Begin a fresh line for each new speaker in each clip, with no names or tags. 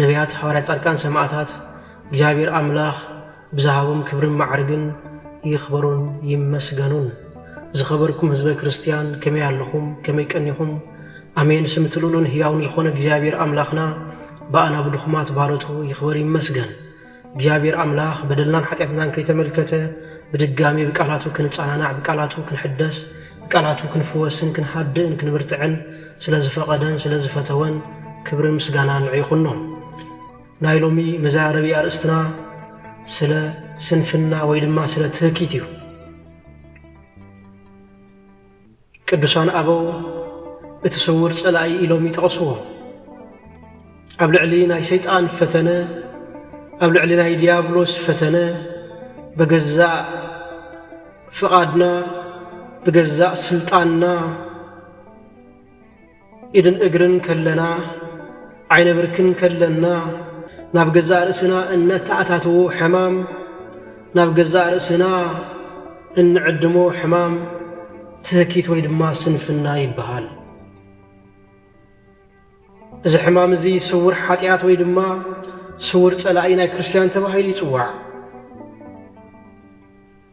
ነብያት ሃዋርያት ጻድቃን ሰማእታት እግዚኣብሔር ኣምላኽ ብዝሃቦም ክብርን ማዕርግን ይኽበሩን ይመስገኑን። ዝኸበርኩም ህዝበ ክርስትያን ከመይ ኣለኹም ከመይ ቀኒኹም ኣሜን ስም እቲ ልኡልን ህያውን ዝኾነ እግዚኣብሔር ኣምላኽና ብኣና ብድኹማት ባሮቱ ይኽበር ይመስገን። እግዚኣብሔር ኣምላኽ በደልናን ሓጢኣትናን ከይተመልከተ ብድጋሚ ብቃላቱ ክንጸናናዕ ብቃላቱ ክንሕደስ ብቃላቱ ክንፍወስን ክንሃድእን ክንብርትዕን ስለ ዝፈቐደን ስለ ዝፈተወን ክብርን ምስጋናን ንዑ ይኹኖ። ናይ ሎሚ መዘራረቢ ኣርእስትና ስለ ስንፍና ወይ ድማ ስለ ትህኪት እዩ። ቅዱሳን ኣበው እቲ ስውር ጸላኢ ኢሎም ይጠቕስዎ። ኣብ ልዕሊ ናይ ሰይጣን ፈተነ፣ ኣብ ልዕሊ ናይ ዲያብሎስ ፈተነ በገዛእ ፍቓድና ብገዛእ ስልጣንና ኢድን እግርን ከለና፣ ዓይነ ብርክን ከለና፣ ናብ ገዛእ ርእስና እነተኣታትዎ ሕማም፣ ናብ ገዛእ ርእስና እንዕድሞ ሕማም ትህኪት ወይ ድማ ስንፍና ይበሃል። እዚ ሕማም እዚ ስውር ሓጢኣት ወይ ድማ ስውር ጸላኢ ናይ ክርስትያን ተባሂሉ ይጽዋዕ።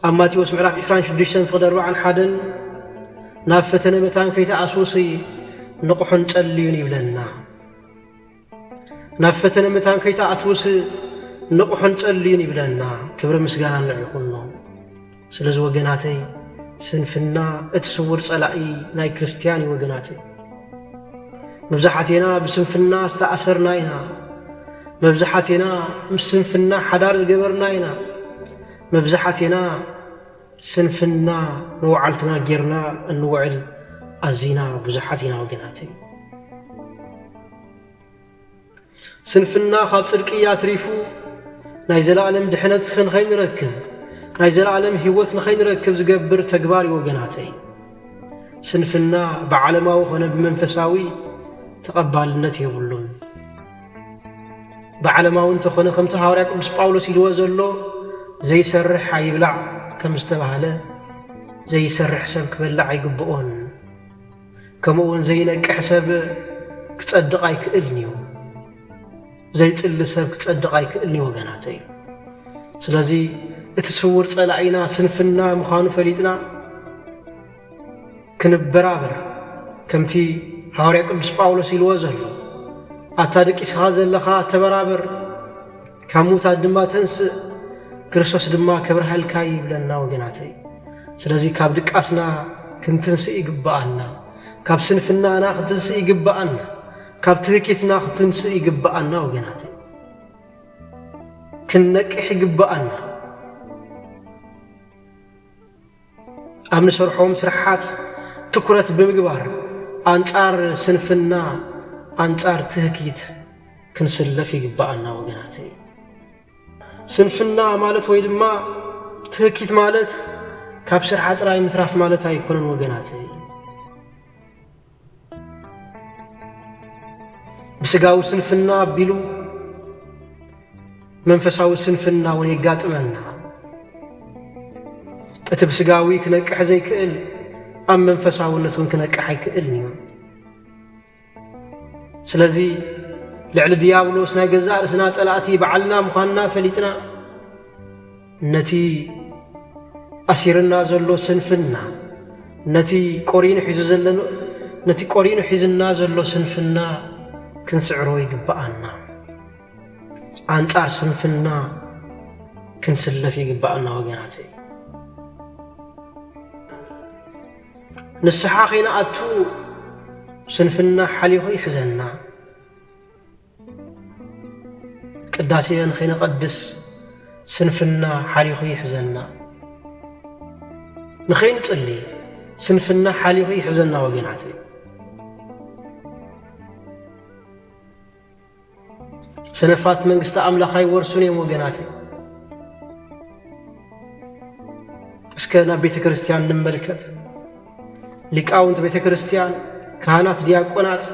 ኣብ ማቴዎስ ምዕራፍ ዕስራን ሽዱሽተን ፍቕዲ ኣርባዓን ሓደን ናብ ፈተነ መታን ከይተኣስውሲ ንቕሑን ጸልዩን ይብለና። ናብ ፈተነ መታን ከይተኣትውሲ ንቕሑን ጸልዩን ይብለና። ክብሪ ምስጋና ንዕኹኖ። ስለዚ ወገናተይ ስንፍና እቲ ስውር ጸላኢ ናይ ክርስትያን እዩ ወገናተይ። መብዛሓቴና ብስንፍና ዝተኣሰርና ኢና። መብዛሓቴና ምስ ስንፍና ሓዳር ዝገበርና ኢና። መብዛሓቴና ስንፍና ንወዓልትና ጌርና እንውዕል ኣዚና ብዙሓት ኢና ወገናተይ። ስንፍና ካብ ጽድቂ ኣትሪፉ ናይ ዘለኣለም ድሕነት ንኸይንረክብ ናይ ዘለኣለም ህይወት ንኸይንረክብ ዝገብር ተግባር እዩ ወገናተይ። ስንፍና ብዓለማዊ ኾነ ብመንፈሳዊ ተቐባልነት የብሉን። ብዓለማዊ እንተኾነ ከምቲ ሃዋርያ ቅዱስ ጳውሎስ ኢልዎ ዘሎ ዘይሰርሕ ኣይብላዕ ከም ዝተባህለ ዘይሰርሕ ሰብ ክበላዕ ኣይግብኦን ከምኡ እውን ዘይነቅሕ ሰብ ክጸድቕ ኣይክእልን እዩ ዘይጽሊ ሰብ ክጸድቕ ኣይክእልን እዩ ወገናተ እዩ ስለዚ እቲ ስውር ጸላኢና ስንፍና ምዃኑ ፈሊጥና ክንበራበር ከምቲ ሃዋርያ ቅዱስ ጳውሎስ ኢልዎ ዘሎ ኣታ ድቂስኻ ዘለኻ ተበራበር ካብ ሙታት ድማ ተንስእ ክርስቶስ ድማ ክብርሃልካ ይብለና ወገናተይ ስለዚ ካብ ድቃስና ክንትንስእ ይግብኣና ካብ ስንፍናና ክትንስእ ይግብኣና ካብ ትህኪትና ክትንስእ ይግብኣና ወገናት ክንነቅሕ ይግብኣና ኣብ ንሰርሖም ስራሓት ትኩረት ብምግባር ኣንጻር ስንፍና ኣንጻር ትህኪት ክንስለፍ ይግባኣና ወገናተይ። ስንፍና ማለት ወይ ድማ ትህኪት ማለት ካብ ስርሓ ጥራይ ምትራፍ ማለት ኣይኮነን ወገናተይ። ብስጋዊ ስንፍና ኣቢሉ መንፈሳዊ ስንፍና እውን የጋጥመና። እቲ ብስጋዊ ክነቅሕ ዘይክእል ኣብ መንፈሳውነት እውን ክነቅሕ ኣይክእልን እዩ ስለዚ ልዕሊ ድያብሎስ ናይ ገዛእ ርእስና ጸላእቲ በዓልና ምዃንና ፈሊጥና ነቲ ኣሲርና ዘሎ ስንፍና ነቲ ቆሪኑ ሒዙ ዘለኖ ነቲ ቆሪኑ ሒዝና ዘሎ ስንፍና ክንስዕሮ ይግብኣና። ኣንጻር ስንፍና ክንስለፍ ይግብኣና ወገናተይ። ንስሓ ከይንኣቱ ስንፍና ሓሊኹ ይሕዘና። ቅዳሴ ንኸይነቐድስ ስንፍና ሓሊኹ ይሕዘና። ንኸይንጽሊ ስንፍና ሓሊኹ ይሕዘና ወገናት ሰነፋት መንግስቲ ኣምላኽ ኣይወርሱን እዮም ወገናት እስከ ናብ ቤተ ክርስቲያን ንመልከት ሊቃውንት ቤተ ክርስቲያን ካህናት ዲያቆናት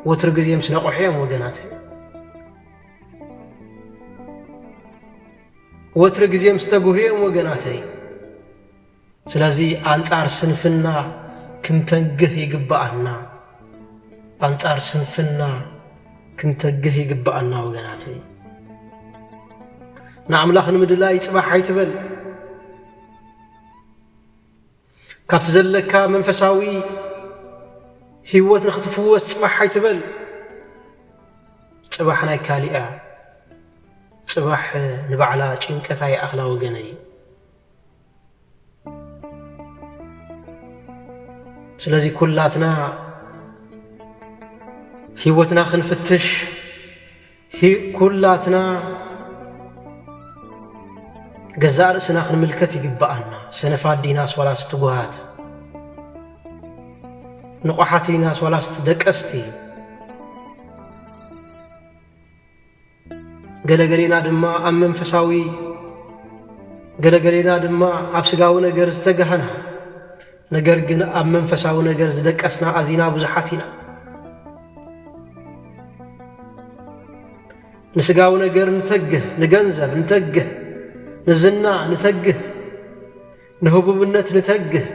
ወትሩ ግዜ ምስ ነቕሑ እዮም ወገናተይ። ወትሩ ግዜ ምስ ተግሁ እዮም ወገናተይ። ስለዚ ኣንጻር ስንፍና ክንተግህ ይግባኣና። ኣንጻር ስንፍና ክንተግህ ይግባኣና ወገናተይ። ንኣምላኽ ንምድላይ ጽባሕ ኣይትበል። ካብቲ ዘለካ መንፈሳዊ ህይወት ንክትፍወስ ጽባሕ ኣይትበል። ጽባሕ ናይ ካሊእ እያ። ጽባሕ ንባዕላ ጭንቀት ኣይኣኽላ ወገነይ። ስለዚ ኩላትና ህይወትና ክንፍትሽ ኩላትና ገዛእ ርእስና ክንምልከት ይግብኣና። ሰነፋት ዲናስ ዋላስ ትጉሃት? ንቑሓት ዲናስ ዋላስ ደቀስቲ? ገለገሌና ድማ ኣብ መንፈሳዊ ገለገሌና ድማ ኣብ ስጋዊ ነገር ዝተጋህና ነገር ግን ኣብ መንፈሳዊ ነገር ዝደቀስና ኣዚና ብዙሓት ኢና። ንስጋዊ ነገር ንተግህ፣ ንገንዘብ ንተግህ፣ ንዝና ንተግህ፣ ንህቡብነት ንተግህ፣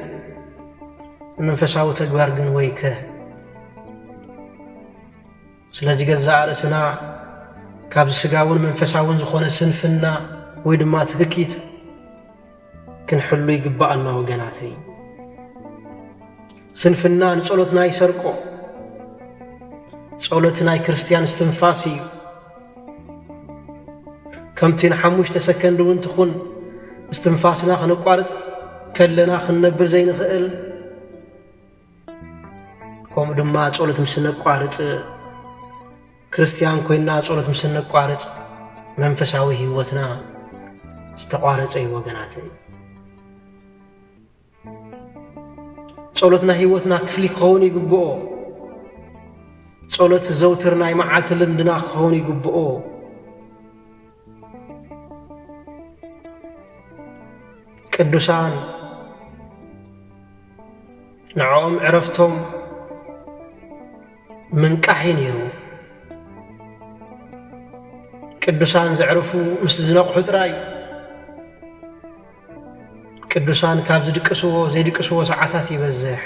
ንመንፈሳዊ ተግባር ግን ወይከ! ስለዚ ገዛእ ርእስና ካብዚ ስጋውን መንፈሳውን ዝኾነ ስንፍና ወይ ድማ ትህኪት ክንሕሉ ይግባኣና ወገናተይ። ስንፍና ንጸሎትና ይሰርቆ። ጸሎት ናይ ክርስትያን ስትንፋስ እዩ ከምቲ ንሓሙሽተ ሰከንድ እውን ትኹን እስትንፋስና ክነቋርጽ ከለና ክንነብር ዘይንኽእል ከምኡ ድማ ጸሎት ምስ ነቋርጽ ክርስትያን ኮይና ጸሎት ምስ ነቋርጽ መንፈሳዊ ህይወትና ዝተቋረጸ እዩ ወገናት። ጸሎትና ህይወትና ክፍሊ ክኸውን ይግብኦ። ጸሎት ዘውትር ናይ መዓልቲ ልምድና ክኸውን ይግብኦ። ቅዱሳን ንዕኦም ዕረፍቶም ምንቃሕ እዩ ነይሩ ቅዱሳን ዘዕርፉ ምስ ዝነቕሑ ጥራይ ቅዱሳን ካብ ዝድቅስዎ ዘይድቅስዎ ሰዓታት ይበዝሕ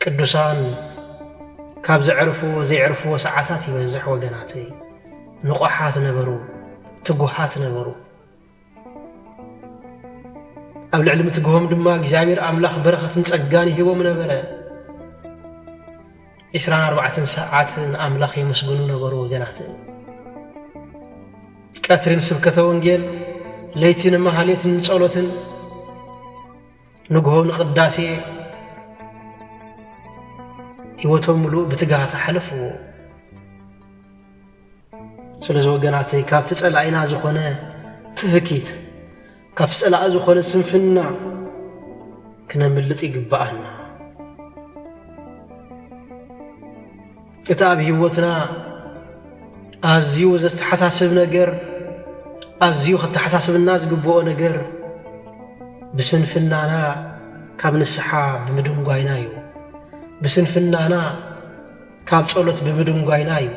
ቅዱሳን ካብ ዘዕርፍዎ ዘየዕርፍዎ ሰዓታት ይበዝሕ ወገናተይ። ንቑሓት ነበሩ፣ ትጉሃት ነበሩ። ኣብ ልዕሊ ምትግሆም ድማ እግዚኣብሔር ኣምላኽ በረኸትን ጸጋን ይህቦም ነበረ። ዕስራን ኣርባዕተን ሰዓት ንኣምላኽ የመስግኑ ነበሩ ወገናት። ቀትርን ስብከተ ወንጌል፣ ለይትን መሃሌትን ጸሎትን ንግሆ ንቅዳሴ ህይወቶም ምሉእ ብትግሃት ኣሕለፍዎ። ስለዚ ወገናተይ ካብቲ ጸላኢና ዝኾነ ትህኪት ካብቲ ጸላኢ ዝኾነ ስንፍና ክነምልጥ ይግብኣና። እቲ ኣብ ህይወትና ኣዝዩ ዘተሓሳስብ ነገር፣ ኣዝዩ ኸተሓሳስብና ዝግብኦ ነገር፣ ብስንፍናና ካብ ንስሓ ብምድንጓይና እዩ። ብስንፍናና ካብ ጸሎት ብምድንጓይና እዩ።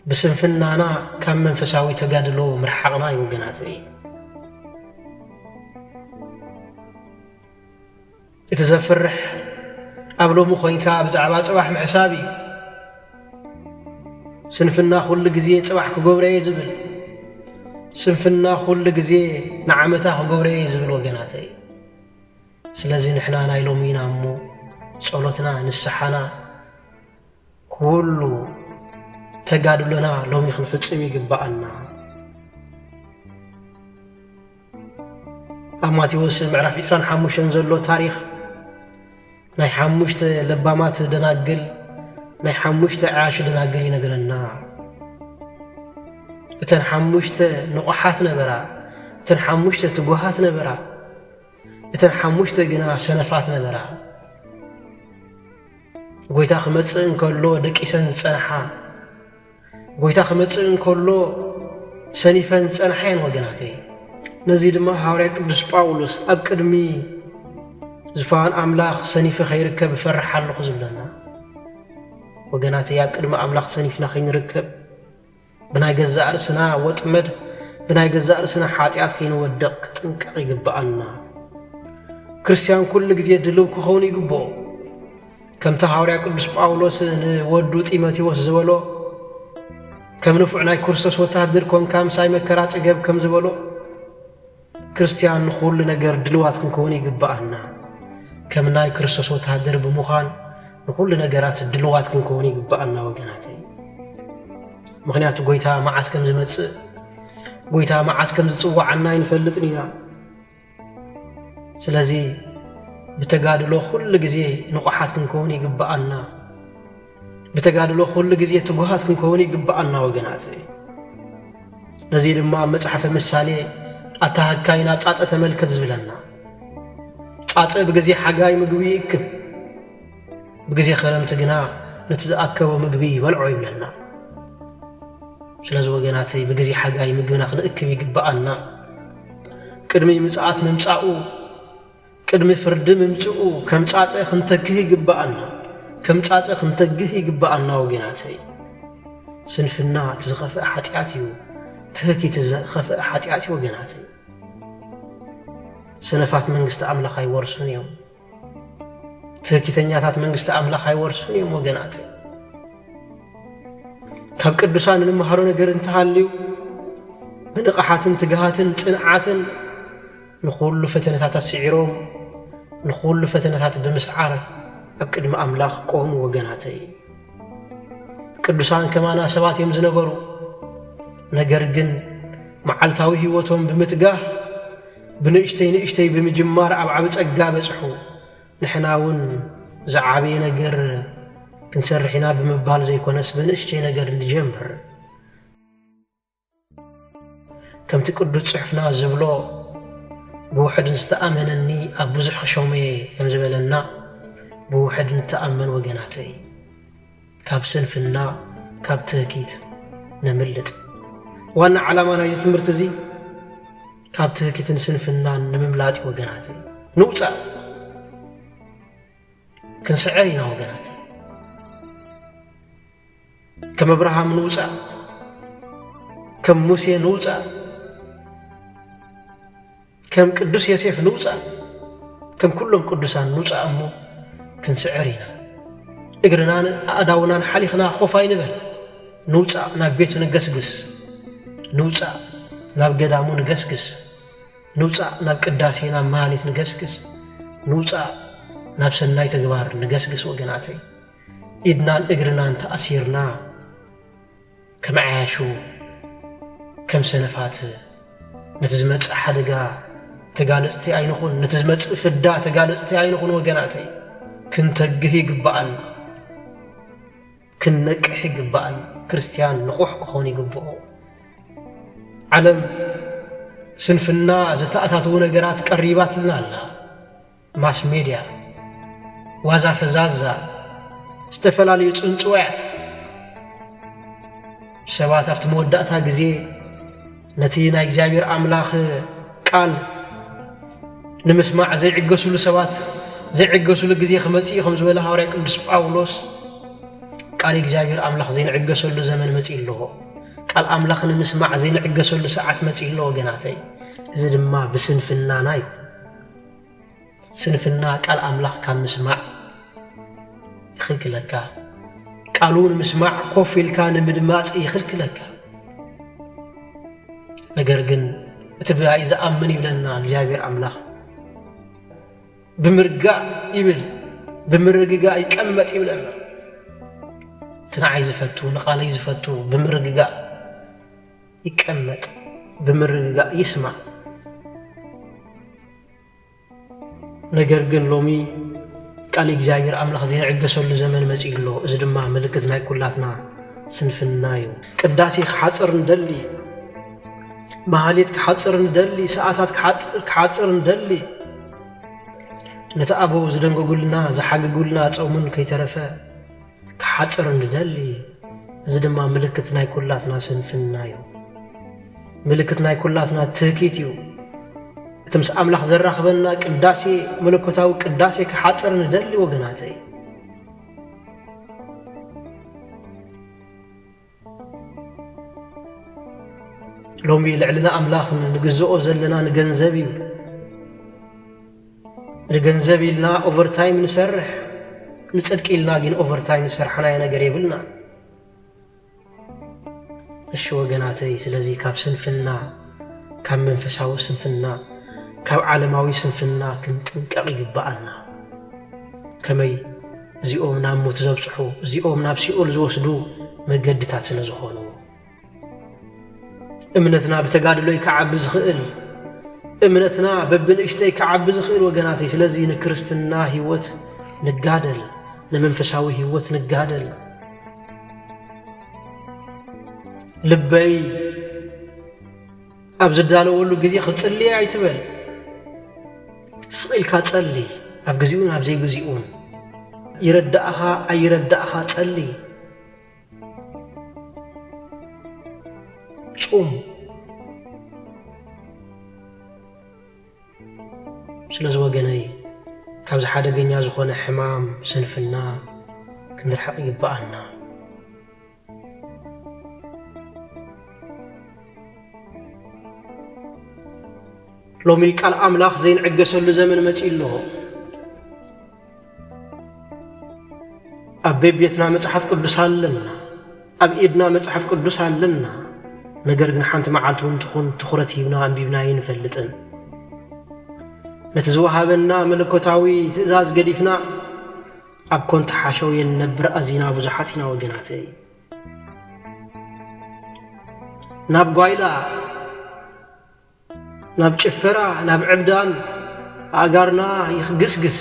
ብስንፍናና ካብ መንፈሳዊ ተጋድሎ ምርሓቕና እዩ ወገናተይ። እቲ ዘፍርሕ ኣብ ሎሚ ኮይንካ ብዛዕባ ጽባሕ ምሕሳብ እዩ። ስንፍና ኩሉ ግዜ ጽባሕ ክገብሮ እየ ዝብል ስንፍና ኩሉ ግዜ ንዓመታ ክገብሮ እየ ዝብል ወገናተይ። ስለዚ ንሕና ናይ ሎሚ ኢና እሞ ጸሎትና ንስሓና ኩሉ ተጋድሎና ሎሚ ክንፍጽም ይግባኣና። ኣብ ማቴዎስ ምዕራፍ ዕስራን ሓሙሽተን ዘሎ ታሪኽ ናይ ሓሙሽተ ለባማት ደናግል ናይ ሓሙሽተ ዓያሹ ደናግል ይነግረና። እተን ሓሙሽተ ንቑሓት ነበራ፣ እተን ሓሙሽተ ትጉሃት ነበራ፣ እተን ሓሙሽተ ግና ሰነፋት ነበራ። ጐይታ ክመጽእ እንከሎ ደቂሰን ዝጸንሓ ጐይታ ክመጽእ እንከሎ ሰኒፈን ዝጸንሓ እየን ወገናተይ። ነዚ ድማ ሃዋርያ ቅዱስ ጳውሎስ ኣብ ቅድሚ ዝፋን ኣምላኽ ሰኒፈ ከይርከብ እፈርሕ ኣለኹ ዝብለና ወገናተይ፣ ኣብ ቅድሚ ኣምላኽ ሰኒፍና ከይንርከብ ብናይ ገዛእ ርእስና ወጥመድ ብናይ ገዛእ ርእስና ሓጢኣት ከይንወድቕ ክጥንቀቕ ይግብኣና። ክርስትያን ኩሉ ግዜ ድልው ክኸውን ይግብኦ። ከምቲ ሃዋርያ ቅዱስ ጳውሎስ ንወዱ ጢሞቴዎስ ዝበሎ ከም ንፉዕ ናይ ክርስቶስ ወተሃደር ኮንካ ምሳይ መከራ ጽገብ ከም ዝበሎ ክርስትያን ንኹሉ ነገር ድልዋት ክንከውን ይግብኣና። ከም ናይ ክርስቶስ ወተሃደር ብምዃን ንኹሉ ነገራት ድልዋት ክንከውን ይግብኣና ወገናተይ። ምክንያቱ ጎይታ መዓስ ከም ዝመጽእ ጎይታ መዓስ ከም ዝጽዋዓና ኣይንፈልጥን ኢና ስለዚ ብተጋድሎ ኩሉ ግዜ ንቑሓት ክንከውን ይግብኣና። ብተጋድሎ ኩሉ ግዜ ትጉሃት ክንከውን ይግብኣና ወገናተይ። ነዚ ድማ ኣብ መጽሓፈ ምሳሌ ኣታ ሃካይ ናብ ጻጸ ተመልከት ዝብለና ጻጸ ብግዜ ሓጋይ ምግቢ ይእክብ ብግዜ ከረምቲ ግና ነቲ ዝኣከቦ ምግቢ ይበልዖ ይብለና። ስለዚ ወገናተይ ብግዜ ሓጋይ ምግብና ክንእክብ ይግብኣና። ቅድሚ ምጽኣት ምምጻኡ፣ ቅድሚ ፍርዲ ምምጽኡ ከም ጻጸ ክንተክህ ይግብኣና። ከም ጻጸ ክንተግህ ይግብኣና ወገናተይ። ስንፍና እቲ ዝኸፍአ ሓጢኣት እዩ። ትህክ እቲ ዝኸፍአ ሓጢኣት እዩ ወገናተይ። ሰነፋት መንግስቲ ኣምላኽ ኣይወርሱን እዮም። ትህኪተኛታት መንግስቲ ኣምላኽ ኣይወርሱን እዮም ወገናት ካብ ቅዱሳን እንመሃሮ ነገር እንተሃልዩ ብንቕሓትን ትግሃትን ጽንዓትን ንኹሉ ፈተነታት ኣስዒሮም ንኹሉ ፈተነታት ብምስዓር ኣብ ቅድሚ ኣምላኽ ቆሙ ወገናተይ ቅዱሳን ከማና ሰባት እዮም ዝነበሩ ነገር ግን መዓልታዊ ህይወቶም ብምትጋህ ብንእሽተይ ንእሽተይ ብምጅማር ኣብ ዓቢ ጸጋ በጽሑ። ንሕና እውን ዝዓበየ ነገር ክንሰርሕ ኢና ብምባል ዘይኮነስ በንእሽተይ ነገር ንጀምር። ከምቲ ቅዱስ ጽሑፍና ዝብሎ ብውሕድ ዝተኣመነኒ ኣብ ብዙሕ ክሾም እየ ከም ዝበለና ብውሕድ ንተኣመን ወገናተይ። ካብ ስንፍና፣ ካብ ትህኪት ነምልጥ። ዋና ዓላማ ናይዚ ትምህርቲ እዚ ካብ ትህኪትን ስንፍናን ንምምላጥ እዩ ወገናተይ። ንውጻእ ክንስዕር ኢና ወገናተይ። ከም እብርሃም ንውጻእ፣ ከም ሙሴ ንውጻእ። ከም ቅዱስ የሴፍ ንውጻእ ከም ኩሎም ቅዱሳን ንውጻእ እሞ ክንስዕር ኢና እግርናን ኣእዳውናን ሓሊኽና ኮፍ ኣይንበል ንውጻእ ናብ ቤቱ ንገስግስ ንውጻእ ናብ ገዳሙ ንገስግስ ንውጻእ ናብ ቅዳሴ ናብ መሃሌት ንገስግስ ንውጻእ ናብ ሰናይ ተግባር ንገስግስ ወገናተይ ኢድናን እግርናን ተኣሲርና ከም ዓያሹ ከም ሰነፋት ነቲ ዝመጽእ ሓደጋ ተጋለጽቲ ኣይንኹን፣ ነቲ ዝመጽእ ፍዳ ተጋለጽቲ ኣይንኹን። ወገናተይ ክንተግህ ይግባኣን ክንነቅሕ ይግባኣን። ክርስትያን ንቑሕ ክኾን ይግብኦ። ዓለም ስንፍና ዘተኣታትዉ ነገራት ቀሪባትልና ኣላ። ማስ ሜድያ ዋዛ ፈዛዛ ዝተፈላለዩ ጽንጽዋያት ሰባት ኣብቲ መወዳእታ ግዜ ነቲ ናይ እግዚኣብሔር ኣምላኽ ቃል ንምስማዕ ዘይዕገሱሉ ሰባት ዘይዕገሱሉ ግዜ ክመጽእ ከም ዝበለ ሃዋርያ ቅዱስ ጳውሎስ ቃል እግዚኣብሔር ኣምላኽ ዘይንዕገሰሉ ዘመን መጺእ ኣለዎ ቃል ኣምላኽ ንምስማዕ ዘይንዕገሰሉ ሰዓት መጺእ ኣሎ ወገናተይ እዚ ድማ ብስንፍናና እዩ ስንፍና ቃል ኣምላኽ ካብ ምስማዕ ይኽልክለካ። ቃሉ ንምስማዕ ኮፍ ኢልካ ንምድማፅ ይኽልክለካ። ነገር ግን እቲ ብኣይ ዝኣምን ይብለና እግዚኣብሔር ኣምላኽ ብምርጋእ ይብል ብምርግጋእ ይቀመጥ ይብለና። እቲ ንዓይ ዝፈቱ ንቓለይ ዝፈቱ ብምርግጋእ ይቀመጥ ብምርግጋእ ይስማዕ። ነገር ግን ሎሚ ቃል እግዚኣብሔር ኣምላኽ ዘይዕገሰሉ ዘመን መጺኡ ኣሎ። እዚ ድማ ምልክት ናይ ኩላትና ስንፍና እዩ። ቅዳሴ ክሓጽር ንደሊ፣ መሃሌት ክሓጽር ንደሊ፣ ሰዓታት ክሓጽር ንደሊ፣ ነቲ ኣበው ዝደንገጉልና ዝሓግጉልና ጾሙን ከይተረፈ ክሓጽር ንደሊ፣ እዚ ድማ ምልክት ናይ ኩላትና ስንፍና እዩ። ምልክት ናይ ኩላትና ትህኪት እዩ። እቲ ምስ ኣምላኽ ዘራኽበና ቅዳሴ መለኮታዊ ቅዳሴ ክሓጽር ንደሊ ወገናተይ። ሎሚ ልዕሊ ንኣምላኽ ንግዝኦ ዘለና ንገንዘብ እዩ። ንገንዘብ ኢልና ኦቨርታይም ንሰርሕ፣ ንጽድቂ ኢልና ግን ኦቨርታይም ዝሰርሓናዮ ነገር የብልና። እሺ ወገናተይ፣ ስለዚ ካብ ስንፍና ካብ መንፈሳዊ ስንፍና ካብ ዓለማዊ ስንፍና ክንጥንቀቕ ይግብኣና። ከመይ? እዚኦም ናብ ሞት ዘብጽሑ፣ እዚኦም ናብ ሲኦል ዝወስዱ መገድታት ስለ ዝኾኑ እምነትና ብተጋድሎ እዩ ክዓቢ ዝኽእል። እምነትና በብንእሽተይ ክዓቢ ዝኽእል ወገናተይ። ስለዚ ንክርስትና ህይወት ንጋደል፣ ንመንፈሳዊ ህይወት ንጋደል። ልበይ ኣብ ዝዳለወሉ ግዜ ክጽልይ ኣይትበል። ስቕ ኢልካ ጸልይ፣ ኣብ ግዜኡን ኣብ ዘይግዜኡን። ይረዳእኻ ኣይረዳእኻ ጸልይ። ጹም ስለዚ ወገነይ ካብዚ ሓደገኛ ዝኾነ ሕማም ስንፍና ክንርሕቕ ይግበኣና። ሎሚ ቃል ኣምላኽ ዘይንዕገሰሉ ዘመን መጺኡ ኣሎ ኣብ ቤቤትና መጽሓፍ ቅዱስ ኣለና ኣብ ኢድና መጽሓፍ ቅዱስ ኣለና ነገር ግን ሓንቲ መዓልቲ እውን ትኹን ትኹረት ሂብና ኣንቢብና ይንፈልጥን ነቲ ዝወሃበና መለኮታዊ ትእዛዝ ገዲፍና ኣብ ኮንታ ሓሸውየ ንነብር ኣዚና ብዙሓት ኢና ወገናተይ ናብ ጓይላ ናብ ጭፈራ ናብ ዕብዳን ኣእጋርና ይኽግስግስ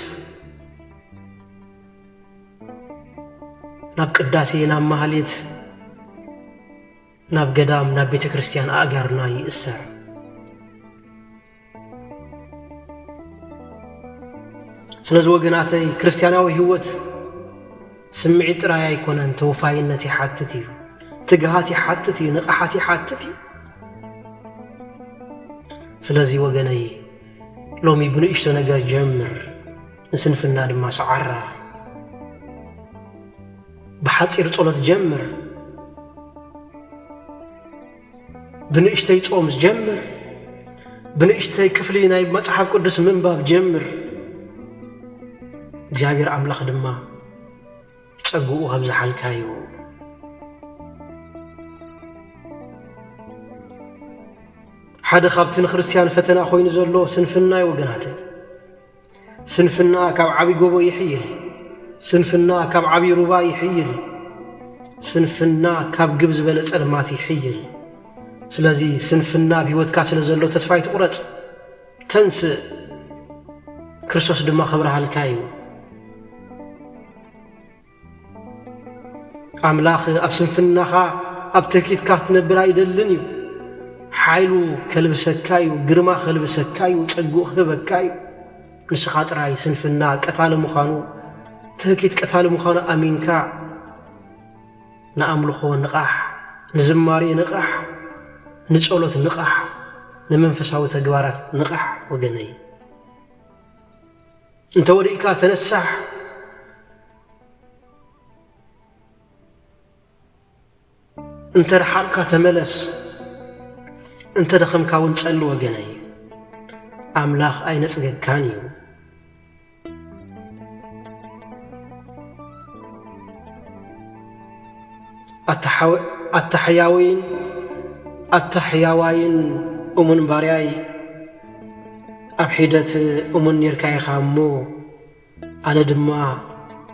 ናብ ቅዳሴ ናብ ማህሌት ናብ ገዳም ናብ ቤተ ክርስቲያን ኣእጋርና ይእሰር። ስለዚ ወገናተይ ክርስቲያናዊ ህይወት ስምዒት ጥራይ ኣይኮነን፣ ተወፋይነት ይሓትት እዩ፣ ትግሃት ይሓትት እዩ፣ ንቕሓት ይሓትት እዩ። ስለዚ ወገነይ ሎሚ ብንእሽቶ ነገር ጀምር፣ ንስንፍና ድማ ሰዓራ። ብሓጺር ጸሎት ጀምር፣ ብንእሽተይ ጾም ጀምር፣ ብንእሽተይ ክፍሊ ናይ መጽሓፍ ቅዱስ ምንባብ ጀምር። እግዚኣብሔር ኣምላኽ ድማ ጸግኡ ከብዝሓልካ እዩ። ሓደ ካብቲ ንክርስትያን ፈተና ኮይኑ ዘሎ ስንፍና እዩ ወገናተይ። ስንፍና ካብ ዓቢ ጎቦ ይሕይል ስንፍና ካብ ዓቢ ሩባ ይሕይል ስንፍና ካብ ግብ ዝበለ ጸልማት ይሕይል ስለዚ ስንፍና ኣብ ህይወትካ ስለ ዘሎ ተስፋ ኣይትቑረጽ ተንስእ ክርስቶስ ድማ ክብርሃልካ እዩ ኣምላኽ ኣብ ስንፍናኻ ኣብ ትህኪትካ ክትነብር ኣይደልን እዩ። ሓይሉ ከልብሰካ እዩ፣ ግርማ ከልብሰካ እዩ፣ ጸግኡ ክህበካ እዩ። ንስኻ ጥራይ ስንፍና ቀታሊ ምዃኑ፣ ትህኪት ቀታሊ ምዃኑ ኣሚንካ ንኣምልኾ ንቓሕ፣ ንዝማሬ ንቓሕ፣ ንጸሎት ንቓሕ፣ ንመንፈሳዊ ተግባራት ንቓሕ ወገነይ። እንተ ወዲቅካ ተነሳሕ! እንተ ረሓቅካ ተመለስ! እንተ ደኸምካ እውን ጸሊ ወገነይ! ኣምላኽ ኣይነጽገካን እዩ። ኣታ ሕያውይን ኣታ ሕያዋይን እሙን ባርያይ ኣብ ሒደት እሙን ኔርካ ኢኻ እሞ ኣነ ድማ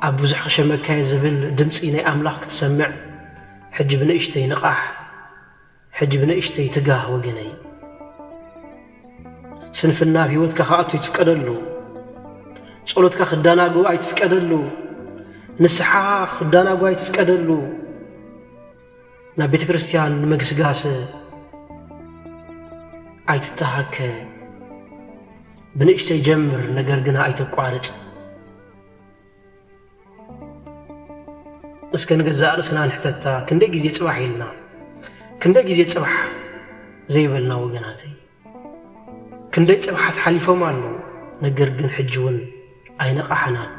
ኣብ ብዙሕ ክሸመካየ ዝብል ድምፂ ናይ ኣምላኽ ክትሰምዕ ሕጂ ብንእሽተይ ንቓሕ ሕጂ ብንእሽተይ ትጋህ ወገነይ ስንፍና ኣብ ህይወትካ ክኣቱ ኣይትፍቀደሉ ጸሎትካ ክዳናጎ ኣይትፍቀደሉ ንስሓ ክዳናጎ ኣይትፍቀደሉ ናብ ቤተ ክርስቲያን ንምግስጋሰ ኣይትተሃከ ብንእሽተይ ጀምር ነገር ግና ኣይተቋርጽ እስከ ንገዛእ ርእስና ንሕተታ ክንደይ ግዜ ጽባሕ ኢልና ክንደይ ግዜ ጽባሕ ዘይበልና ወገናተይ ክንደይ ጽባሓት ሓሊፎም ኣለዉ ነገር ግን ሕጂ እውን ኣይነቓሕናን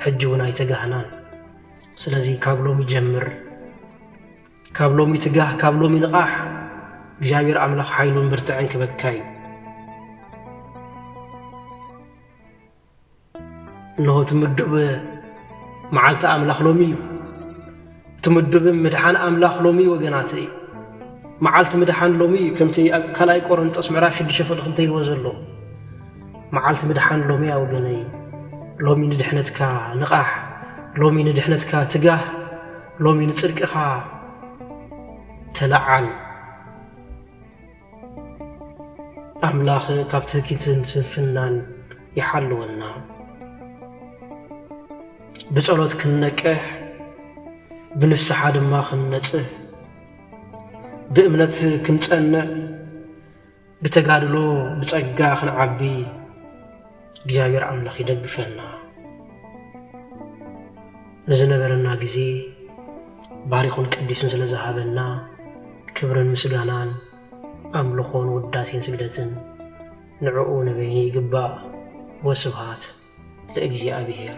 ሕጂ እውን ኣይተጋህናን ስለዚ ካብ ሎሚ ጀምር ካብ ሎሚ ትጋህ ካብ ሎሚ ንቓሕ እግዚኣብሔር ኣምላኽ ሓይሉን ብርትዕን ክበካ እዩ እንሆ እቲ ምዱብ መዓልቲ ኣምላኽ ሎሚ እዩ እቲ ምዱብ ምድሓን ኣምላኽ ሎሚ እዩ ወገናት እዩ መዓልቲ ምድሓን ሎሚ እዩ ከምቲ ኣብ ካልኣይ ቆረንጦስ ምዕራፍ 6 ፍቅ ክልተ ኢልዎ ዘሎ መዓልቲ ምድሓን ሎሚ እያ ወገነይ ሎሚ ንድሕነትካ ንቓሕ ሎሚ ንድሕነትካ ትጋህ ሎሚ ንጽድቅኻ ተለዓል ኣምላክ ካብ ትህኪትን ስንፍናን ይሓልወና ብጸሎት ክንነቅሕ ብንስሓ ድማ ክንነጽህ ብእምነት ክንጸንዕ ብተጋድሎ ብጸጋ ክንዓቢ እግዚኣብሔር ኣምላኽ ይደግፈና። ንዝነበረና ግዜ ባሪኹን ቀዲሱን ስለ ዝሃበና ክብርን ምስጋናን ኣምልኾን ውዳሴን ስግደትን ንዕኡ ንበይኑ ይግባእ። ወስብሃት ለእግዚኣብሔር።